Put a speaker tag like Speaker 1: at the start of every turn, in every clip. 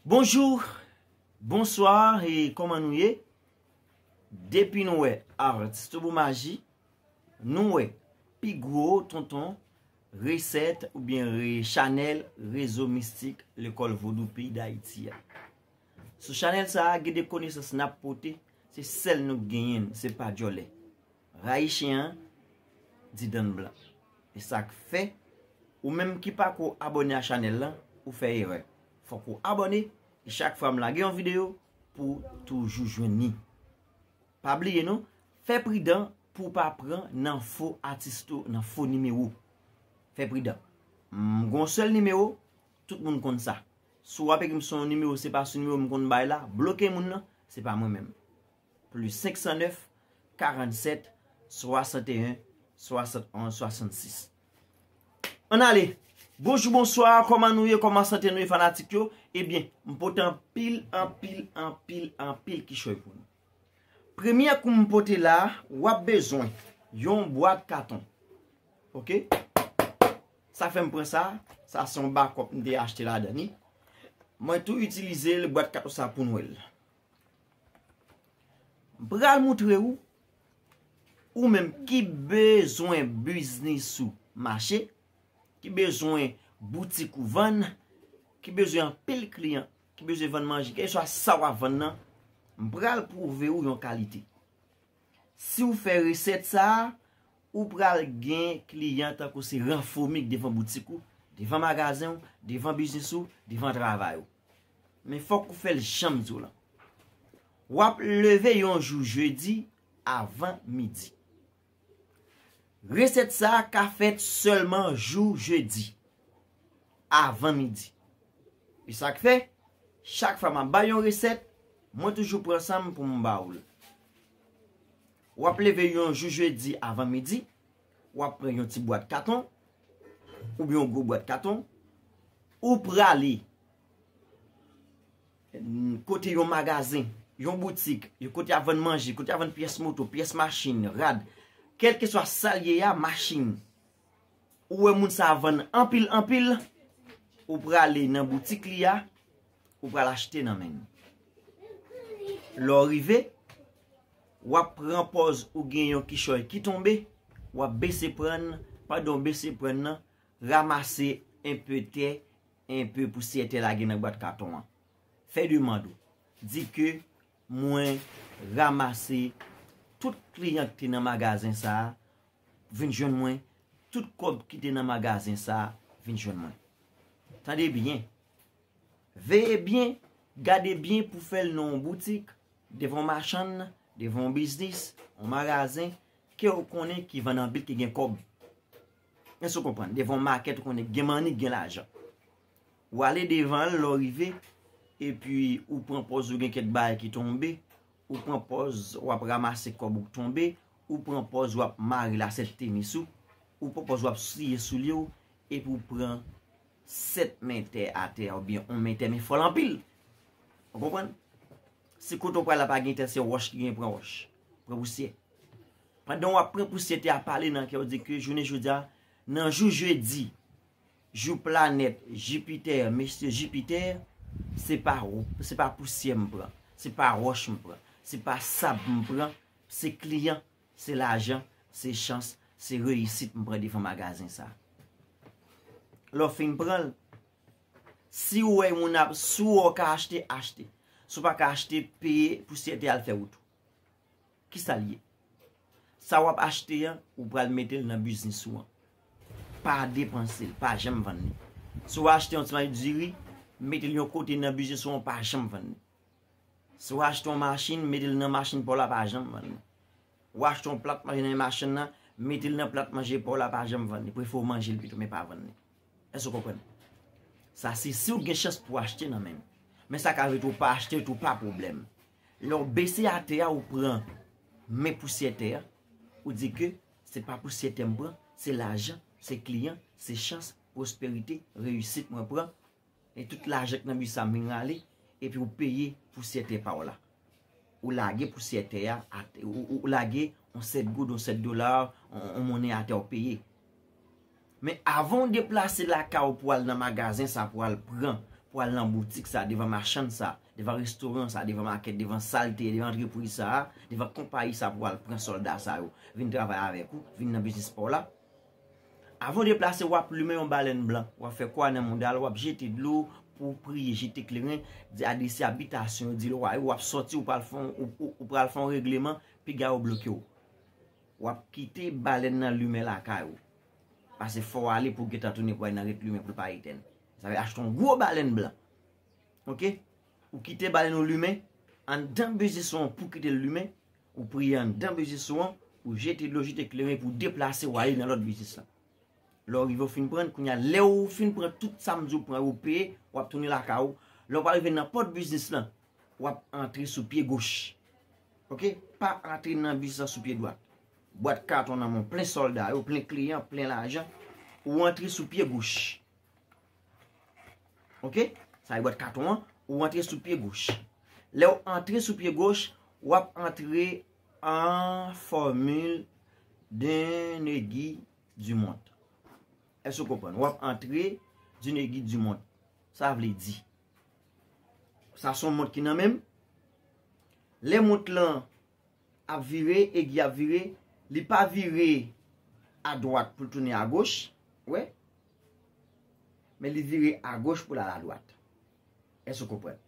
Speaker 1: Bonjou, bonswa e kòman nou ye? Depi nou wè Artsthoubomagie, nou wè pi gwo tonton resèt oubyen chanèl rezo mistik lekòl vodou peyi Dayiti a. Sou chanèl sa a gen de konesans n ap pote, se sèl nou k genyen l, se pa djòlè. Rayi chien an di dan blan. Esak fè ou menm ki pako abone a chanel lan ou fè erè fok ou abone e chak fwa m lage yon video pouw toujou jwenn ni pa bliye non fè pridan pouw pa pran nan fo atis tou nan fo nimewo fè pridan m gon sèl nimewo tout moun konn sa si wap ekrim son nimewo se pa sou nimewo m konn bay la bloke moun nan se pa mwen menm. Plus 509 47 61 71 66 Ann ale! Bonjou bonswa, kòman nou ye, kòman sante nou ye fanatik yo? Ebyen, m pote anpil, anpil, anpil, anpil kichòy pou nou. Premye kou m pote la, w ap bezwen yon bwat katon. Ok? Sa fè m pran sa, sa se yon bakòp m te achte ladan li. Mwen tou itilize l, bwat katon sa pou Nwèl. M pral moutre ou, ou menm ki bezwen biznis ou mache, ki bezwen boutik ou vann, ki bezwen anpil kliyan, ki bezwen vann manje, kèlkeswa sa w ap vann nan, m pral pwouve ou yon kalite. Siw fè resèt sa, ou pral gen kliyan tankou se ran fomik devan boutik ou, devan magazen ou, devan biznis ou, devan travay ou. Men fòk ou fèl janm diw lan. Wap leve yon jou jedi avan midi. Resèt sa ka fèt sèlman jou jedi avan midi. E sak fè, chak fwa map bay yon resèt, mwen toujou pran sanm poum ba oul. Wap leve yon jou jedi avan midi, wap pran yon ti bwat katon, oubyen yon gwo bwat katon, ou prale kote yon magazen, yon boutik, yon kote a vann manje, kote a vann pyès moto, pyès machin, rad, kèlkeswa sa l ye a, machin. ou wè moun sa vann anpil anpil, ou prale nan boutik li a, ou pral achte nan men li. Lè w rive, w ap pran pòz ou gen yon kichòy ki tonbe, w ap bese pran l, pandan w bese pran l nan, ramase enpe tè, enpe pousyè tè lage nan bwat katon an. Fè demand ou. Di ke. Mwen ramase tout kliyan ki te nan magazen sa vin jwenn mwen, tout kòb ki te nan magazen sa vin jwenn mwen. Tande byen, veye byen, gade byen pou fè l nan yon boutik, devan yon machann, devan yon biznis, yon magazen ke ou konnen ki vann anpil ki gen kòb. Èske ou konprann? Devan yon makèt ou konnen ki gen money, ki gen lajan. Ou ale devan l lè w rive, epi ou pran pòz ou gen kèk bagay ki tonbe, ou pran pòz w ap ramase kòb ou k tonbe, ou pran pòz w ap mare lasèt tenis ou, ou pran pòz w ap siye soulye w, epi ou pran 7 men tè atè a oubyen on men tè men fò l anpil. Ou konprann? Si kote w pral la pa gen tè se wòch ki gen pran wòch, pran pousyè. Pandan w ap pran pousyè tè a pale nan kè w di ke jounen jodi a, nan jou jedi, Jou planèt Jipitè, mesye Jipitè, se pa se pa pousyè m pran, se pa wòch m pran, se pa sab m pran, se kliyan, se lajan, se chans, se reyisit m pran devan magazen sa. Lè w fin pran l, si w wè yon moun ap, si w wè w ka achte, achte. Si w pa ka achte, peye pousyè te al fè wout ou. Kisa l ye? Sa w ap achte an, ou pral mete l nan biznis ou an. Pa depanse l, pa janm vann li. Si w achte yon ti mari diri, mete l yon kote nan biznis ou an, pa janm vann li. Si w achte yon machin, mete l nan machin pa w la, pa janm vann li. Ou achte yon plat manje nan men machann nan, mete l nan plat manje pa w la, pa janm vann li. Prefere w manje l pito, men pa vann li. Èske w konprann? Sa se si w gen chans pou w achte nan men l. Men sa ka vle di tou ou pa achte l tou, pa pwoblèm. Lè w bese atè a ou pran men pousyè tè a, ou di ke se pa pousyè tè m pran, se lajan, se kliyan, se chans, pwosperite, reyisit mwen pran, e tout lajan ki nan bi sa m vin rale, epi ou peye pousyè tè pa w la. Ou lage pousyè tè a, ou lage yon 7 goud, yon 7 dola, yon monnen atè ou peye. Men avan w deplase lakay ou pou w al nan magazen sa pou w al pran, pou w al nan boutik sa, devan machann sa, devan restoran sa, devan makèt, devan salte, devan antrepriz sa, devan konpayi sa pou w al pran sòlda sa yo vin travay avèk ou, vin nan biznis pa w la. Avan w deplase w ap limen yon balèn blan, w ap fè kwa nan mouda l, w ap jete dlo pou w priye, jete kleren, di adrese abitasyon yo, di lwa yo, w ap sòti ou pral fè yon regleman piga yo bloke w. Wap kite balèn nan limen lakay ou. Pase fòw ale pou gentan tounen pou al nan ret limen poul pa etèn. Sa vle achte yon gwo balèn blan. Ok ou kite balèn ou limen andan bezisou an pou kitel limen ou priye andan bezisou an ou jete dlo jete kleren pou deplase wale nan lòt bezis la. Lèw rive ou fin prann kounya lèw fin pran tout sam diw pran yo peye wap tounen lakay ou lèw pa rive nan pòt biznis lan wap antre sou pye goch. Ok pa antre nan bis la sou pye dwat. Bwat katon nan men plen solda yo, plen kliyan, plen lajan. Ou antre sou pye goch. Ok sa e bwat katon an, ou antre sou pye goch. Le ou antre sou pye goch, wap antre an formil d'un negi du mond. Eso konpon, wap antre d'un negi du mond. Sa vle di. Sa son mont ki nan menm. Lè mont lan ap vire, egi ap vire, li pa vire a dwat pou l tounen a goch, wè. Men li vire a goch pou l al a dwat. Èske ou konprann?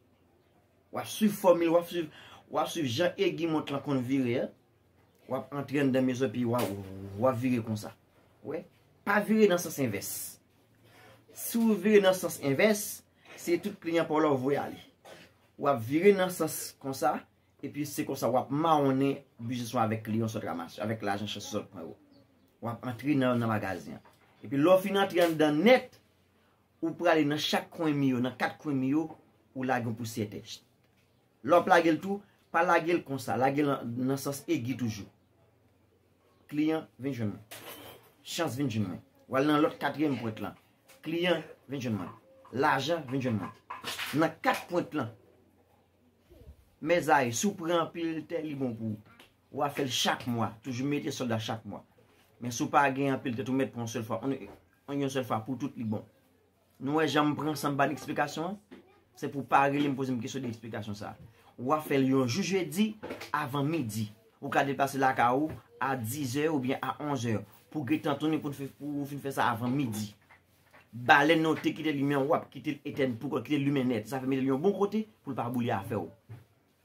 Speaker 1: W ap swiv fòmil, w ap swiv, w ap swiv jan egi mont lan konn vire a. W ap antre anndan mezon epi w ap vire konsa. Wè? Pa vire nan sans envès. Si w vire nan sans envès, se tout kliyan pa w la w voye ale. W ap vire nan sans konsa, epi se konsa w ap mawonnen biznis ou avèk kliyan w sot ranmase yo, avèk lajan chans ou sot pran yo. W ap antre nan magazen an. Epi lè w fin antre anndan nèt, ou prale nan chak kwen mi yo, nan kat kwen mi yo, ou lage yon pousyè tè. Lè w ap lage l tou, pa lage l konsa, lage l nan sans egi toujou. Kliyan, vin jwenn mwen. Chans, vin jwenn mwen. W al nan lòt katriyèm pwent lan. Kliyan, vin jwenn mwen. Lajan, vin jwenn mwen. Nan kat pwent lan. Mèzari, si w pran anpil tè, li bon pou ou. Ou a fè l chak mwa. Toujou mete sòl la chak mwa. Men si w pa gen anpil tè tou, mèt pran yon sèl fwa. Yon sèl fwa pou tout li bon. Nou wè jan m pran san m ban eksplikasyon an? Se pou w pa rele m poze m kesyon de eksplikasyon sa a. Ou a fè l yon jou jedi avan midi. Ou ka deplase lakay ou a dizè oubyen a onzè pou w gentan tounen pou w fin fè sa avan midi. Balèn nan ou te kite limen an w ap kite l etèn pou kont, kite l limen nèt. Sa vle mete l yon bon kote pou l pa boule afè w.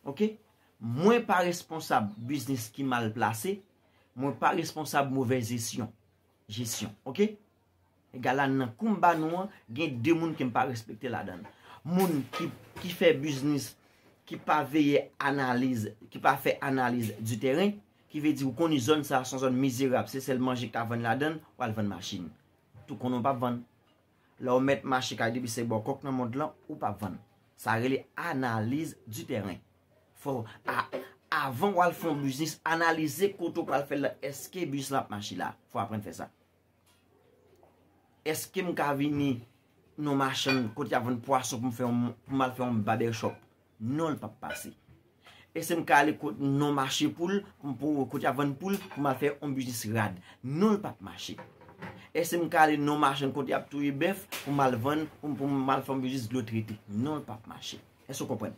Speaker 1: Ok? Mwen pa responsab biznis ki mal plase. Mwen pa responsab movèz jesyon. Ok? Gala nan koum ba nou an gen 2 moun kem pa respekte ladann. Moun ki fè biznis ki pa veye analiz, ki pa fè analiz di tèren, ki vle di ou koni zòn sa son zòn mizerab se sèl manje ki ka vann ladann, wal vann machin. Tou konnen ou pap vann. Lè ou mèt mache kay depi se bò kòk nan mond lan ou pap vann. Sa rele analiz di tèren. Fò avan wal fon biznis analize kote ou pral fèl la eske biznis lan ap mache la. Fò aprann fè sa. Eske m ka vini nan machann kote y ap vann pwason pou m al fè yon babèchòp? Non, l pap pase. Eske m ka ale nan mache poul, kote y ap vann poul, pou m al fè yon biznis rad? Non, l pap mache. Eske m ka ale nan machann kote y ap touye bèf pou m al vann, pou m al fè yon biznis dlo trete? Non, l pap mache. Eske w konprann?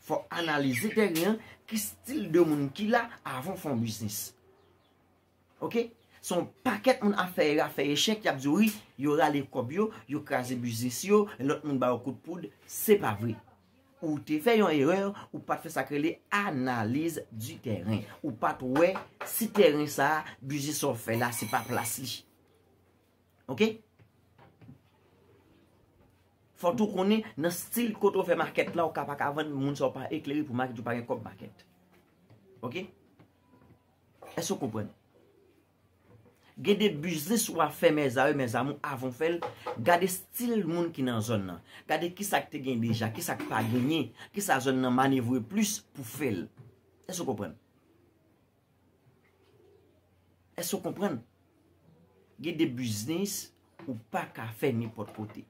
Speaker 1: Fò w analize tèren an, ki stil de moun ki la avan w fè yon biznis. Ok se yon pakèt moun afè era afè echèk yap diw wi yo rale kòb yo yo kraze biznis yo lòt moun bayo kout poud se pa vre ou te fè yon erè ou pat fè sak rele analiz di tèren ou pat wè si tèren sa biznis sa wap fè la se pa plas li ok fò tou konnen nan stil kote ou fè makèt la ou ka paka vann moun sa ou pa eklere pou makèt ou pa gen kòb makèt ok. Èske ou konprann? Gen de biznis ou a fè mèzare mèzamou avan w fè l, gade stil moun ki nan zòn nan. Gade ki sa k te gen deja, ki sa k pa genyen, ki sa zòn nan manevre plis pou fè l. Èske ou konprann? Èske ou konprann? Gen de biznis ou pa ka fè nenpòt kote.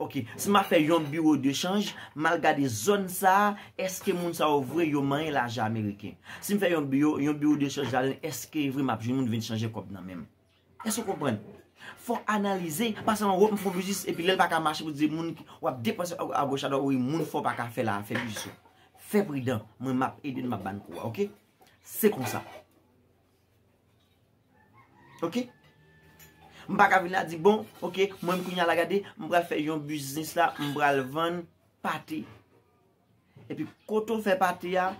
Speaker 1: Ok si map fè yon biro de chanj mal gade zòn sa eske moun sa yo vre yo manyen lajan ameriken sim fè yon biro yon biro de chanj la dan eske vre map jwenn moun vin chanje kòb nan menm eske ou konprann fò analize pa sèlman wòm fò biznis epi lèl paka mache pou di moun wap depanse agoch adwat wi moun fò paka fè la fè biznis ou fè pridan mwen map ede nou map bann kou a ok se konsa Ok M pa ka vin la di bon ok mwen m kounya la gade m pral fè yon biznis la m pral vann pate epi kote w fè pate a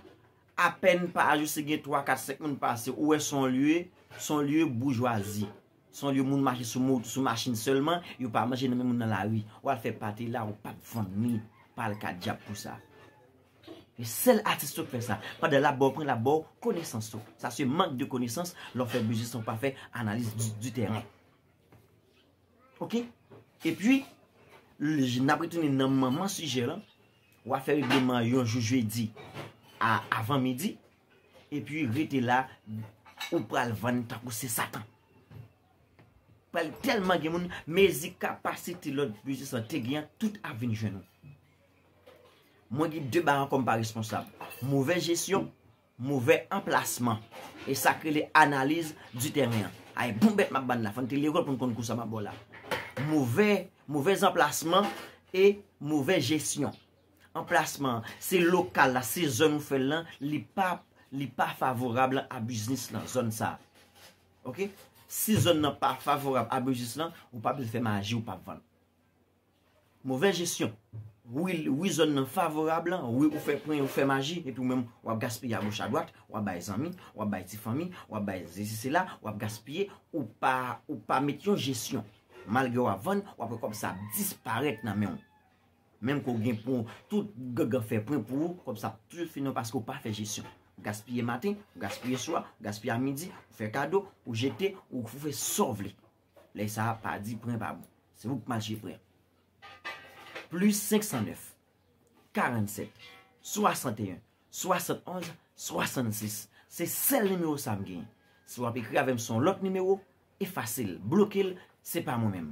Speaker 1: apèn pa a jis gen 3 4 5 moun pase ou wè son lye son lye boujwazi son lye moun mache sou mot sou machin sèlman yo pa manje nan men moun nan lari w al fè pate la ou pap vann ni pal ka dyab pou sa. E sel atis yo k fè sa. Pandan lap baw pran lap baw konesans tou. Sa se mank de konesans lè w fè biznis lan w pa fè analiz di tèren. Ok e pi nap retounen nan manman sijè lan wa fè regleman yon jou jedi a avan midi e pi rete la ou pral vann tankou se satan. Pral telman gen moun mezi kapasite lòt biznis lan te gen an tout ap vin jwenn ou. Mwen gen 2 baran kòm pa responsab. Movè jesyon, movè anplasman. E sak rele analiz di tèren an. Ay bon bèt map bann la, fòn te lekòl pou n konn kou sa map ba w la. Movè, movèz anplasman e movè jesyon. Anplasman, se lokal la, se zòn ou fè l lan, li pa, li pa favorab lan a biznis lan, zòn sa. Ok? Si zòn nan pa favorab a biznis lan, ou pa bezwen fè maji ou pap vann. Movè jesyon. Wi wi zòn nan favorab lan, wi ou fè pwen, ou fè maji, epi ou menm w ap gaspiye a goch a dwat, w ap bay zanmi, w ap bay ti fanmi, w ap bay sesi sela, w ap gaspiye, ou pa ou pa met yon jesyon. Malgre w ap vann, w ap wè kòb sa ap disparèt nan men w. Menm ke w gen pou tout gangan fè pwen pou ou, kòb sa ap toujou fini nan w paske ou pa fè jesyon. Ou gaspiye maten, ou gaspiye swa, ou gaspiye a midi, ou fè kado, ou jete, ou fè sa w vle. Lè sa a pa di pren pa bon. Se ou k mache pren. Plis 509 47 61 71 66 se sèl nimewo sa m genyen. Si w ap ekri avè m sou yon lòt nimewo, efase l, bloke l, se pa mwen menm.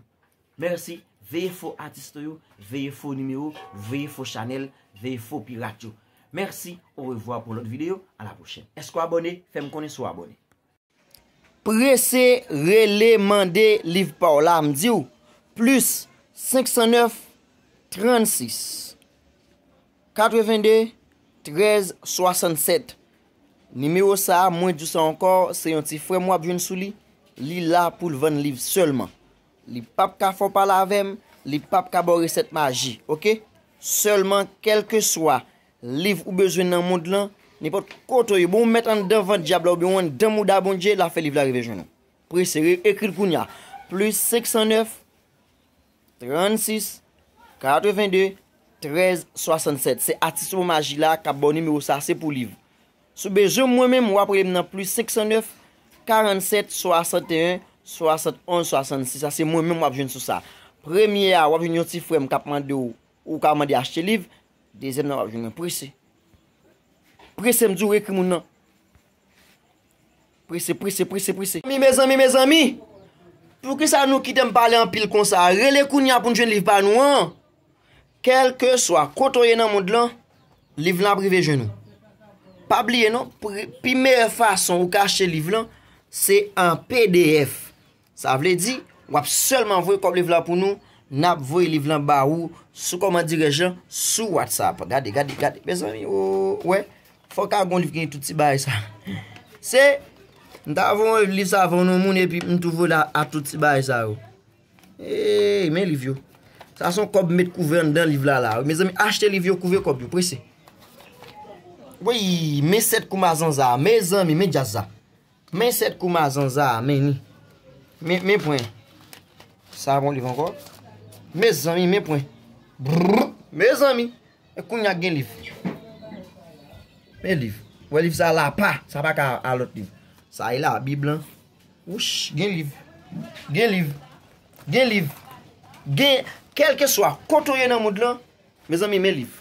Speaker 1: Mèsi, veye fo atiste yo, veye fo nimewo, veye fo chanèl, veye fo pirat yo. Mèsi, orevwa pou lòt videyo, a la pwochèn. Èske w abòne? Fè m konnen si w abòne. Prese rele mande liv pa w la m di w plis 509 36 82 13 67 nimewo sa a mwen di w sa ankò se yon ti frè m w ap jwenn sou li li la pou l vann liv sèlman li p ap ka fè w pale avè m li p ap ka ba w resèt maji ok sèlman kèlkeswa Liv ou bezwen nan mond lan, nenpòt kote ou ye, bon ou mèt anndan vant dyab la oubyen ou anndan mouda Bondye, l ap fè liv la rive jwenn ou. Prese, ekri l kounye a, plis 509 36 82 13 67 se atis mo maji la k ap ba w nimewo sa a, se pou liv. Si w bezwen mwen menm, w ap rele m nan plis 509 47 61 71 66 sa se mwen menm w ap jwenn sou sa. Premye a w ap jwenn yon ti frè m k ap mande w. Ou ka mande achte liv. Dezyèm nan wap jwenn mwen prese. Prese m di w ekri moun nan. Prese, prese, prese, prese. Mezanmi, mezanmi, mezanmi! Poukisa nou kite m pale anpil konsa? Rele kounye a pou n jwenn liv pa nou an! Kèlkeswa kote w ye nan mond lan, liv lan ap rive jwenn ou. Pa bliye non, pi meyè fason ou ka achte liv lan, se an pdf. Sa vle di, wap sèlman voye kòb liv la pou nou, nap voye liv lan ba ou sou kòmand dirèj lan sou WhatsApp. Gade, gade, gade, mezanmi o, ou wè, fò ka gon liv ki gen tout ti bagay sa. Se, m ta voye yon liv sa voye yon moun e pi m tou voye la a tout ti bagay sa yo. Eey, men liv yo. Sa son kòb met kouvè anndan liv la la. Mezanmi, achte liv yo, kouvè kòb yo, prese. Woyy, men sèt kou mazanza, mezanmi, men djaz sa. Men 7 kou mazanza a men li. Men pwen. Sa a pa yon liv ankò. Mezanmi men pwen. Brrr. Mezanmi. E kounya k gen liv. Men liv. Wè liv sa a la pa. Sa pa ka a lòt liv. Sa e la bib lan. Wouch. Gen liv. Gen liv. Gen liv. Gen. Kèlke swa. Kote w ye nan mond lan. Mezanmi men liv.